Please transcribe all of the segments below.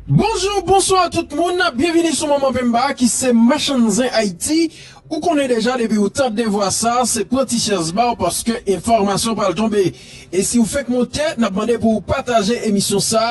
Bonjou, bonswa tout moun, byenvini sou Manman Pemba ki se Machann Zen Ayiti. Ou konnen deja depi ou tande vwa sa, se pran ti chèz ba w paske enfòmasyon pral tonbe. E si w fenk monte, n ap mande pou ou pataje emisyon sa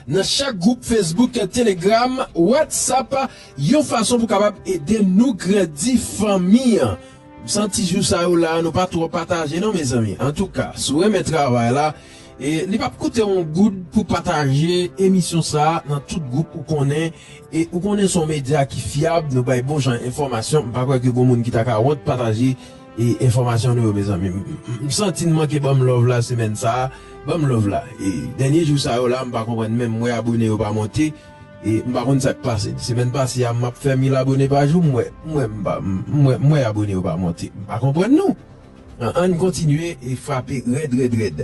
nan chak gwoup Facebook, Telegram, Whatsapp yon fason pou kapab ede nou grandi fanmi an. M santi jou sa yo la nou pa twò pataje non mezanmi. Antouka, si w renmen travay la, E li pap koute w yon goud pou pataje emisyon sa nan tout gwoup ou konnen e ou konnen son medya ki fyab nou bay bon jan enfòmasyon m pa kwè ke gon moun ki ta ka wont pataje e enfòmasyon nou yo mezanmi m santi n manke banm love la semèn sa banm love la e dènye jou sa yo la m pa konprann menm m wè abone yo pa monte e m pa konn sak pase semèn pase a map fè mil abone pa jou m wè m wè m pa m wè m wè abone yo pa monte m pa konprann nou. Ann kontinye frape rèd rèd rèd.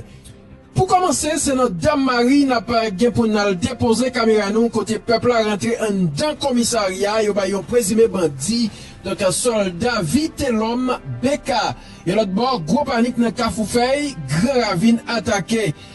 Pou kòmanse se nan Dam Mari n ap gen pou n al depoze kamera nou kote pèp la rantre anndan komisarya yo bay yon prezime bandi donk sòlda Vitelòm BK. Yon lòt bò gwo panik nan Kafoufèy, Gran Ravin atake.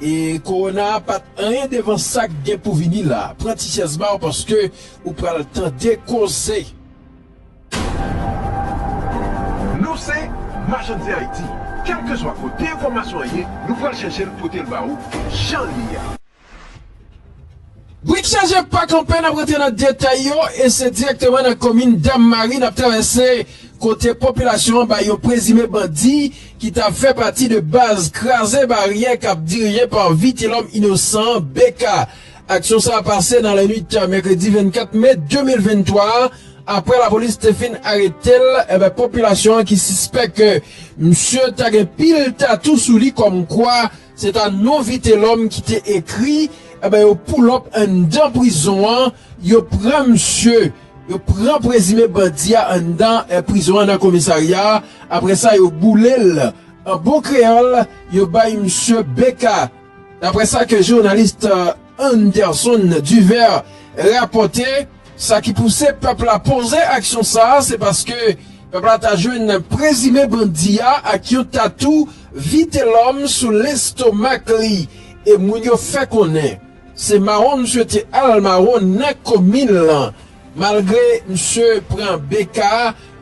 E korona a pat anyen devan sak gen pou vini la. Pran ti chèz baw paske ou pral tande koze. Nou se Machann Zen Ayiti, kèlkeswa kote enfòmasyon an ye, nou pral chèche l pote l ba ou jan l ye a. Brik chaje pa kanpe nap rantre nan detay yo e se direkteman nan komin Dam Mari nap travèse kote popilasyon an bay yon prezime bandi ki ta fè pati de baz kraze baryè kap dirije pa Vitelòm Inosan, BK. Aksyon sa pase nan lannwit mèkredi 24 me 2023 a, aprè lapolis te fin arete l eh popilasyon an ki sispèk misye ta gen pil tatou sou li kòmkwa. Se ta non vitelòm ki te ekri enben yo poulòp anndan prizon an yo pran misye yo pran prezime bandi a anndan prizon an nan komisarya aprè sa yo boule l an bon kreyòl yo bay misye BK daprè sa ke journaliste Anderson Duvert rapòte. Sa ki pouse pèp la poze aksyon sa a, se paske pèp la ta jwenn prezime bandi a ak yon tatou Vitelòm sou lestomak li e moun yo fè konnen se mawon misye te al mawon nan komin lan. Malgre misye pran BK,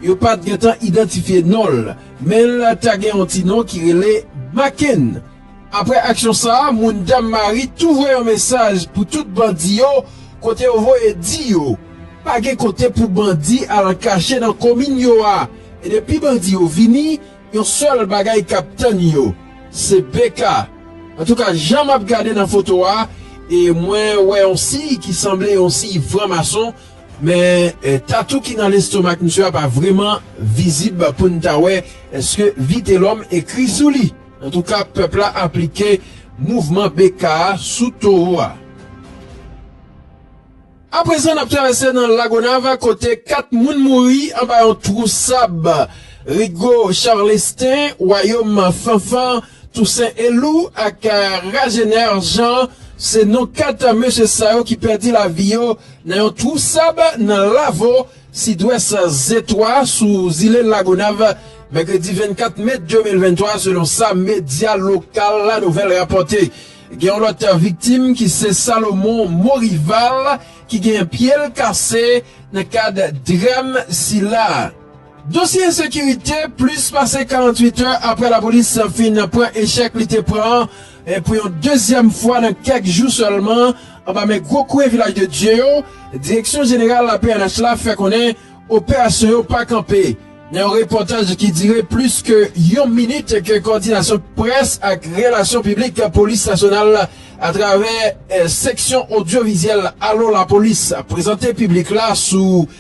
yo pa t gentan idantifye non l, men l ta gen yon ti non ki rele Makenn. Aprè aksyon sa a, moun Dammari tou voye yon mesaj pou tout bandi yo kote yo voye di yo pa gen kote pou bandi al kache nan komin yo a e depi bandi yo vini yon sèl bagay k ap tann yo se BK. Antouka jan m ap gade nan foto a e mwen wè yon siy ki sanble yon siy franmason men tatou ki nan lestomak misye a pa vreman vizib pou n ta wè èske Vitelòm ekri sou li. Antouka pèp la aplike mouvman BK a sou towo a. A prezan nap travèse nan Lagonav kote 4 moun mouri anba yon twou sab Rigo Charlestin, Wayom Fanfan, Tousen Elou ak Ragener Jean se non 4 mesye sa yo ki pèdi lavi yo nan yon twou sab nan Lavo, Sidwès Zetwa sou zile Lagonav, mèkredi 24 me 2023, selon sa medya lokal La Nouvelle rapòte. Gen yon lòt viktim ki se Salomon Maurival ki gen pye l kase nan kad dram sila. Dosye ensekirite, plis pase 48 è aprè lapolis fin pran echèk li te pran E pou yon dezyèm fwa nan kèk jou sèlman, anba men gwo kouye Vilaj de Dye yo, Direksyon Jeneral la pnh la fè konnen operasyon yo pa kanpe. Nan yon repòtaj ki dire plis ke yon minit ke Kòdinasyon Près ak Relasyon Piblik Polis Nasyonal atravè seksyon odyovizyèl Alo Lapolis prezante piblik la sou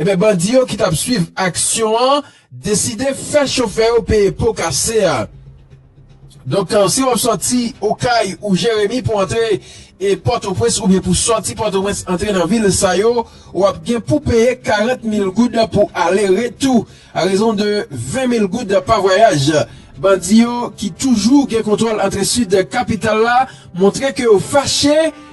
Ebyen bandi yo ki tap swiv aksyon an deside fè chofè yo peye po kase a. Donk si wap sòti Okay ou Jeremi pou antre Pòtoprens oubyen pou sòti Pòtoprens antre nan vil sa yo, wap gen pou peye 40 mil goud pou ale retou a rezon de 20 mil goud pa vwayaj. Bandi yo ki toujou gen kontwòl antre Sid kapital la montre ke yo fache.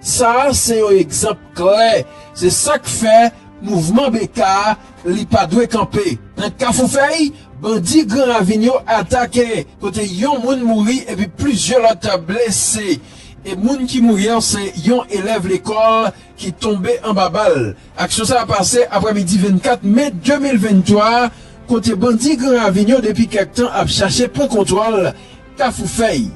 Sa a se yon egzanp klè, se sa k fè mouvman BK a, li pa dwe kanpe. Nan Kafoufèy, bandi Gran Ravin yo atake, kote yon moun mouri epi plizyè lòt blese. E moun ki mouri an se yon elèv lekòl ki tonbe anba bal. Aksyon sa a pase aprè midi 24 me 2023, kote bandi Gran Ravin yo depi kèk tan ap chache pran kontwòl Kafoufèy.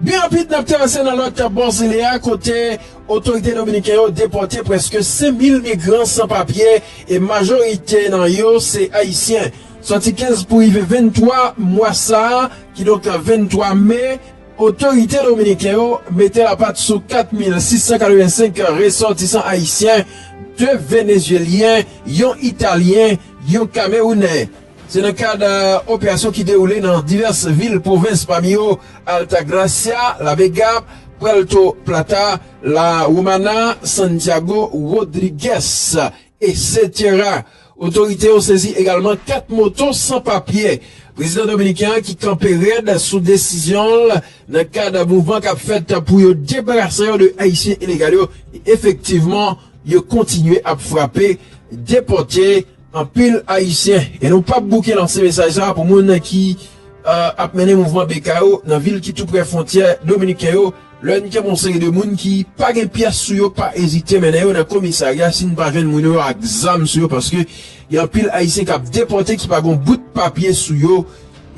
Byen rapid n ap travèse nan lòt bò zile a kote otorite dominiken yo depòte prèske 5,000 migran san papye e majorite nan yo se ayisyen. Sòti 15 pou rive 23 mwa sa a, kidonk 23 me, otorite dominiken yo mete lapat sou 4,685 resòtisan ayisyen, 2 venezyelyen, yon italyen, yon kamewounè. Se nan kad operasyon ki dewoule nan divès vil pwovens pami yo Altagracia, La Vega, Puerto Plata, La Romana, Santiago, Rodrigues, etc. Otorite yo sezi egalman 4 moto san papye. Prezidan dominiken an ki kanpe rèd sou desizyon l nan kad mouvman k ap fèt pou yo debarase yo de ayisyen ilegal yo e efektivman yo kontinye ap frape, depòte. Anpil Ayisyen, e nou pap bouke lanse mesaj sa pou moun ki ap mennen mouvman BK yo nan vil ki tou prè fwontyè dominiken yo, lè n kenbe yon seri de moun ki pa gen pyès sou yo, pa ezite mennen yo nan komisarya si n pa jwenn moun yo ak zam sou yo paske gen anpil Ayisyen k ap depòte ki pa gen yon bout papye sou yo.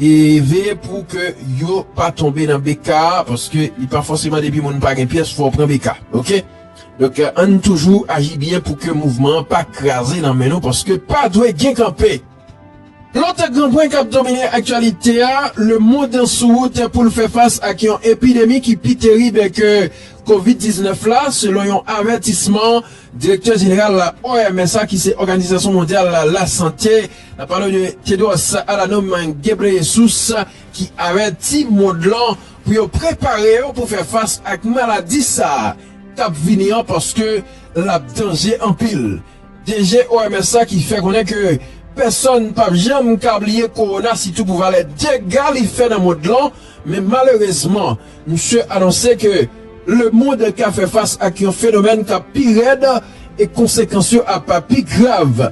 E veye pou ke yo pa tonbe nan BK paske li pa fòseman depi moun pa gen pyès fò w pran BK ok. Donk ann toujou aji byen pou ke mouvman an pa kraze nan men nou paske pa dwe gen kanpe. Lòt gran pwen k ap domine aktyalite a, lemond sou wout pou l fè fas ak yon epidemi ki pi terib ke Kovid 19 la, selon yon avètisman direktè jeneral OMS la ki se Òganizasyon Mondyal Lasante, n ap pale de Tedros Adhanom Ghebreyesus ki avèti mond lan. pou yo prepare yo pou fè fas ak maladi sa k ap vini an paske l ap danje anpil. DG OMS la ki fè konnen ke pèsòn p ap janm ka bliye kowona sitou pou valè dega li fè nan mond lan men malerezman misye anonse ke lemond ka fè fas ak yon fenomèn k ap pi rèd e konsekans yo ap pi grav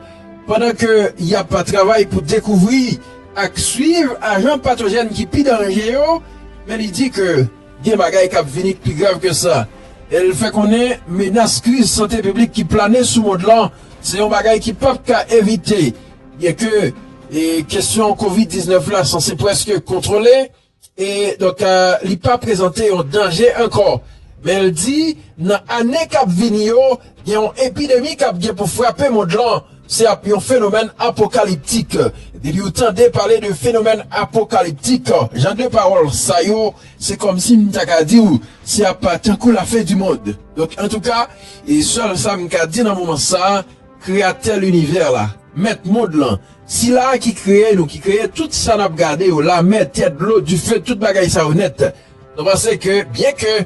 pandan ke y ap travay pou dekouvri ak swiv ajan patojèn ki pi danje yo, men li di ke gen bagay kap vini k pi grav ke sa. El fè konnen menas kriz sante piblik ki plane sou mond lan se yon bagay ki pap ka evite, byenke kesyon Covid 19 la sanse preske kontwole. E donk li pa prezante yon danje ankò. Men l di nan ane k ap vini yo, gen yon epidemi k ap gen pou frape mond lan. Se ap yon fenomèn apokaliptik. Depi ou tande pale de fenomèn apokaliptik, jan de pawòl sa yo, se kòm si m ta ka di w se ap tankou lafen di mond. Donk antouka, sèl sa m ka di nan moman sa, Kreyatè linivè la, Mèt mond lan, Sila a ki kreye nou, ki kreye tout sa n ap gade yo, lamè, tè, dlo, dife, tout bagay sa yo nèt. Nou panse ke, byenke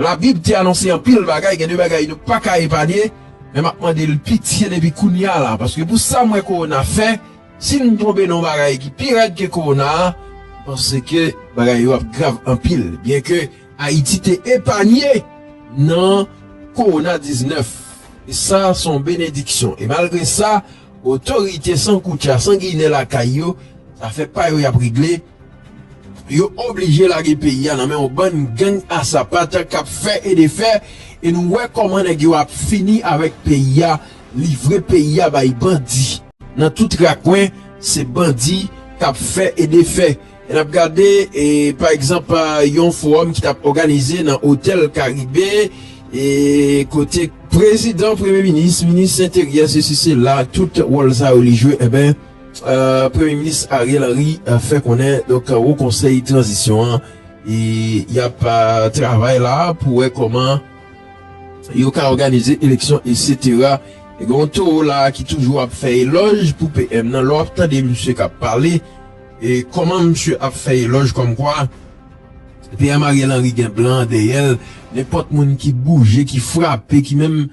Labib te anonse anpil bagay, gen de bagay nou pa ka epanye, men m ap mande l pitye depi kounye a la, paske pou sa m wè kowona fè, si n tonbe nan yon bagay ki pi rèd ke kowona a, m panse ke bagay yo ap grav anpil, byenke. Ayiti te epanye nan Kowona 19, e sa s on benediksyon. E malgre sa, otorite san koutya, san ginen lakay yo, zafè pa yo y ap regle, yo oblije lage peyi a nan men on bann gang a sapat k ap fè e defè, e nou wè kòman nèg yo ap fini avèk peyi a, livre peyi a bay bandi. Nan tout rakwen, se bandi k ap fè e defè. N ap gade pa egzanp yon fowòm ki t ap òganize nan otèl Karibe kote prezidan, premye minis, minis enteryè sesi sela tout wòl sa yo li jwe enben premye minis Ariel Henry fè konnen donk wo konsèy tranzisyon an y ap travay la pou wè kòman yo ka òganize eleksyon esetera gen yon towo la ki toujou ap fè elòj pou PM nan lè w ap tande misye k ap pale. E kòman misye ap fè elòj kòmkwa PM Ariel Henry gen blan dèyè l, nenpòt moun ki bouje, ki frape, ki menm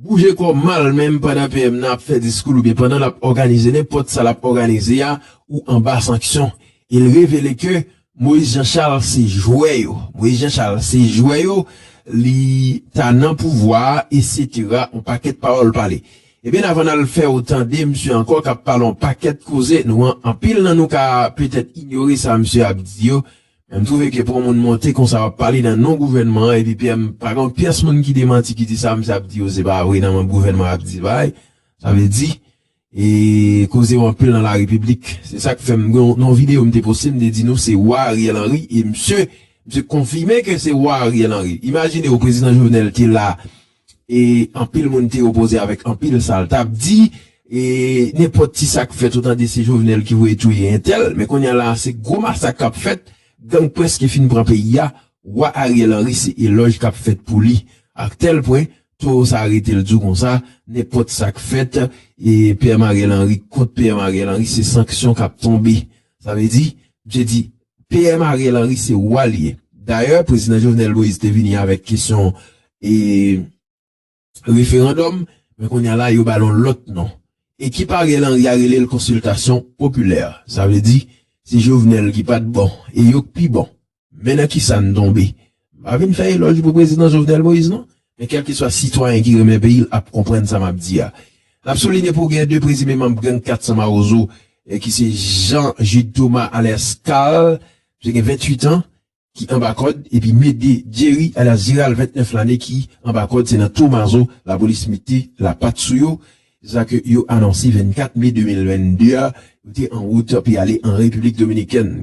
bouje kò mal menm pandan PM nan ap fè diskou oubyen pandan l ap òganize nenpòt sa l ap òganize a ou anba sanksyon. E l revele ke Moïse Jean Charles se jwè yo. Moïse Jean Charles se jwè yo, li ta nan pouvwa a, eksetera, yon pakèt pawòl pale. Ebyn avan nal fèw tande misye ankò kap pale yon pakèt koze nou an anpil nan nou ka petèt inyore sa misye ap di yo men m twouve ke pou yon moun monte konsa wap pale nan non gouvènman an epi PM pa gen yon pyès moun ki demanti ki di sa misye ap di yo se pa vre nan manb gouvènman ap di bay sa vle di e koze yo anpil nan la repiblik se sak fèm gen yon non video m te poste m te di nou se wa Ariel Henry e misye misye konfime ke se wa Ariel Henry imajine w prezidan Jovenel te la E anpil moun te opoze avèk anpil sa l t ap di. E nenpòt ti sa k fèt ou tande se Jovenel ki voye touye entèl. Men kounye a la a se gwo masak k ap fèt. Gang prèske fin pran peyi a. Wa Ariel Henry se elòj k ap fèt pou li. A tèl pwen, towo sa a rete l di w konsa, nenpòt sa k fèt, e PM Ariel Henry kont PM Ariel Henry se sanksyon k ap tonbe. Sa vle di, msye di, PM Ariel Henry se wa li ye. Dayè Prezidan Jovenel Moïse te vini avèk kesyon e referandòm, men kounye a la yo ba l yon lòt non. Ekip Ariel Henry a rele l konsiltasyon popilè. Sa vle di, se Jovenel ki pa t bon e yo k pi bon. Men nan kisa n tonbe? M pa vin fè elòj pou Prezidan Jovenel Moïse non, men kèlkeswa sitwayen ki renmen peyi l ap konprann sa m ap di a. N ap soulinye pou gen 2 prezime manb gang 400 Mawozo ki se Jean Jude Thomas alyas Carl, msye gen 28 an, ki anba kòd, epi Médée Jerry alyas Gérald 29 lane ki anba kòd, se nan Thomazo lapolis mete lapat sou yo. Se sa ke yo anonse 24 me 2022 a, yo te anwout pou y ale an Repiblik Dominikèn.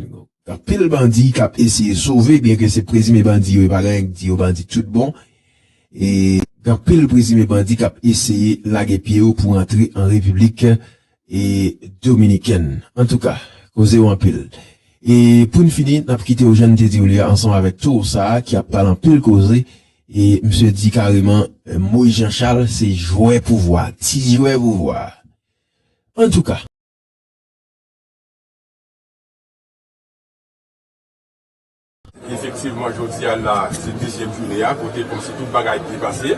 Anpil bandi kap eseye sove byen ke se prezime bandi yo e pa genyen k di yo bandi tout bon e gen anpil prezime bandi kap eseye lage pye yo pou rantre an repiblik e dominikèn antouka koze yo anpil e poun fini nap kite yo jan n te di yo li a ansanm avèk tour sa a ki ap pale anpil koze e misye di kareman moise jean charles se jwè pouvwa ti jwè pouvwa antouka. Efektivman jodi a la se dezyèm joune a kote kòmsi tout bagay byen pase.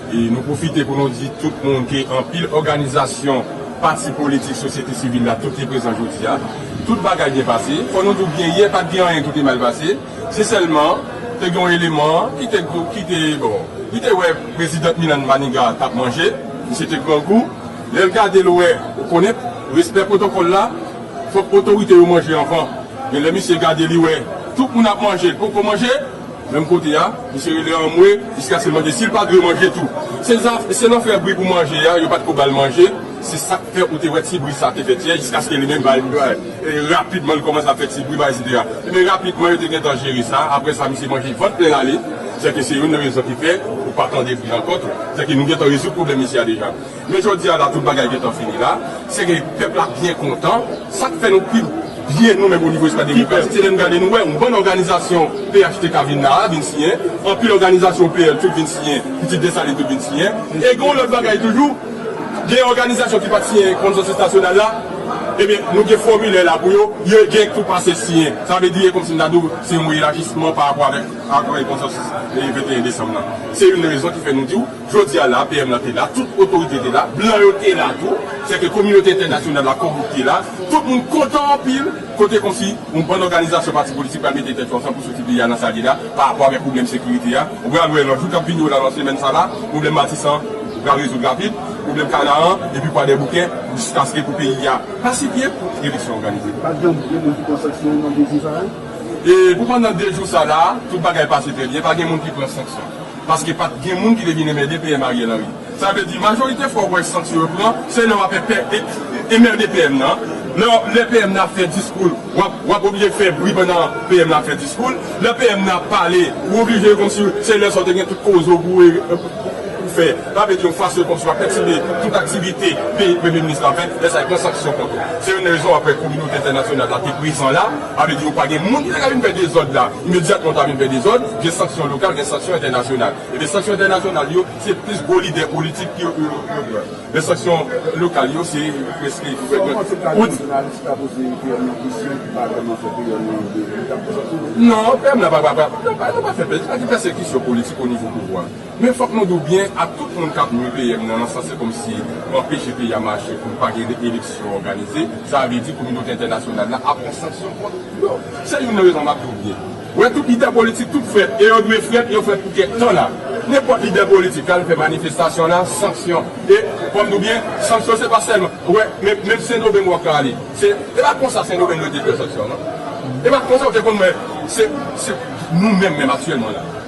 E nou pwofite pou nou di tout moun ke anpil òganizasyon, pati politik, sosyete sivil la tout te prezan jodi a. Tout bagay byen pase. Fò nou di w byen yè pat gen anyen ki te mal pase. Se sèlman te gen yon eleman ki te ki te bon li te wè prezidant Milan Maniga t ap manje. Misye te grangou. Lè l gade l wè ou konnen respè pwotokòl la. Fok otorite yo manje anvan. Genlè misye gade li wè tout moun ap manje li poko manje, menm kote a misye rele anmwe jiskaske l mande sil pa dwe manje tou. Se zafè se lè w fè bri pou manje a yo pat ko bal manje se sak fè ou te wè ti bri sa te fèt yè jiskaske li menm bay e rapidman li komanse ap fè ti bri bay etsetera ebyen rapidman yo te gentan jere sa aprè sa misye manje vant plen ale sèke se youn nan rezon ki fè ou pa tande bri ankò tou sèke nou gentan rezoud pwoblèm misye a deja. Men jodi a la tout bagay gentan fini la, se ke pèp la byen kontan, sa k fè nou pi byen nou menm onivo espas demokratik se lè n gade nou wè yon bann òganizasyon phtk vin la a, vin siyen, anpil òganizasyon pl tout vin siyen, pitit Desalin tout vin siyen, e gen yon lòt bagay toujou, gen òganizasyon ki pa t siyen konsansis nasyonal la, ebyen nou gen fòmilè la pou yo, yo gen tou pase siyen, sa vle di e kòmsi m ta di w se yon elajisman parapò avèk ak konsansis 21 desanm lan, se youn rezon ki fè nou di w. Jodi a la, PM lan te la, tout otorite te la, blan yo te la tou, se ke kominote entènasyonal la kòm te la, tout moun kontan anpil, kote kòmsi yon bann òganizasyon pati politik pral mete tèt yo ansanm pou soti peyi a nan sa li ye la, pa rapò avèk pwoblèm sekirite a, ou pral wè nan jou kap vini yo la nan semèn sa la, pwoblèm Matisan pral rezoud rapid, pwoblèm Kanaran, epi Kwadèboukè, jiskaske pou peyi a pasifye, pou eleksyon òganize. Pat janm gen moun ki pran sanksyon nan 2 jou sa yo? E pou pandan 2 jou sa la, tout bagay pase trè byen, pa gen moun ki pran sanksyon. Paske pat gen moun ki te vin enmède PM Ariel Henry. Sa vle di majorite fwa ou wè sanksyon yo pran se lè wap enmède PM nan, lè PM nan ap fè diskoul wap oblije fè bri pandan PM nan ap fè diskoul, lè PM nan ap pale ou oblije komsi se lè sa ou te gen tout koze ou pou ou fè. Sa vle di yon fason komsi wap pètibe tout aktivite premye minis la fè, lè sa yo pran sanksyon kont ou. Se youn nan rezon wap wè kominote entènasyonal la te prezan la. Pa vle di yo pa gen moun ki ta ka vin fè dezòd la, imedyatman ou ta vin fè dezòd, gen sanksyon lokal, gen sanksyon entènasyonal. Ebyen sanksyon entènasyonal yo, se plis gwo lidè politik ki yo pran. Men sanksyon lokal yo se prèske ki fèt nan tout kantons. Non, PM la pa fè, li pa fè pèsekisyon politik onivo pouvwa. Men fòk nou di w byen a tout moun kap nwi PM nan nan sans se kòmsi anpeche peyi a mache pou pa gen eleksyon òganize sa vle di kominote entènasyonal la ap pran sanksyon kont yo se youn nan rezon map di w byen wè tout lidè politik tout frè e yo dwe frèt yo frèt pou kèk tan la nenpòt lidè politik al fè manifestasyon la sanksyon e fòm di w byen sanksyon se pa sèlman wè men menm sendomeng wap ka ale se e pa konsa sendomeng yo te fè sanksyon non e pa konsa yo te konn men se se nou menm menm aktyèlman la.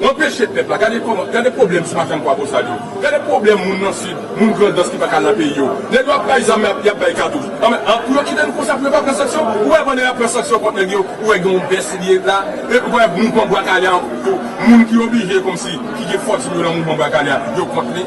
W anpeche pèp la. Gade kòman, gade pwoblèm ti makann Kwabosal yo. Gade pwoblèm moun nan Sid, moun Grandans ki pa ka al nan peyi yo. Nèg yo ap bay zam men y ap bay katouch. Anben, an pou yo kite nou konsa pou yo pa pran sanksyon? Ou wè pandan y ap pran sanksyon kont nèg yo, ou wè gen yon bès li ye la? Epi ou wè mouvman Bwa Kale a, moun ki oblije kòmsi, ki gen fòtin yo nan mouvman Bwa Kale a, yo kont li?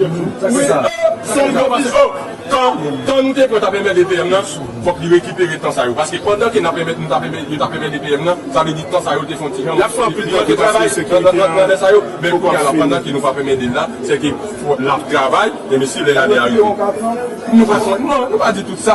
Wi oo son gwo biznis oo tan tan nou te pran tap enmède PM nan fòk li rekipere tan sa yo paske pandan ke nap enmède nou tap enmède yo tap enmède PM nan sa vle di tan sa yo te fon ti jan lap fè anpil li manke travay nan lè sa yo men kounya la pandan ke nou pap enmède l la se ke lap travay enben si lè la li a rive nou pa non nou pa di tout sa.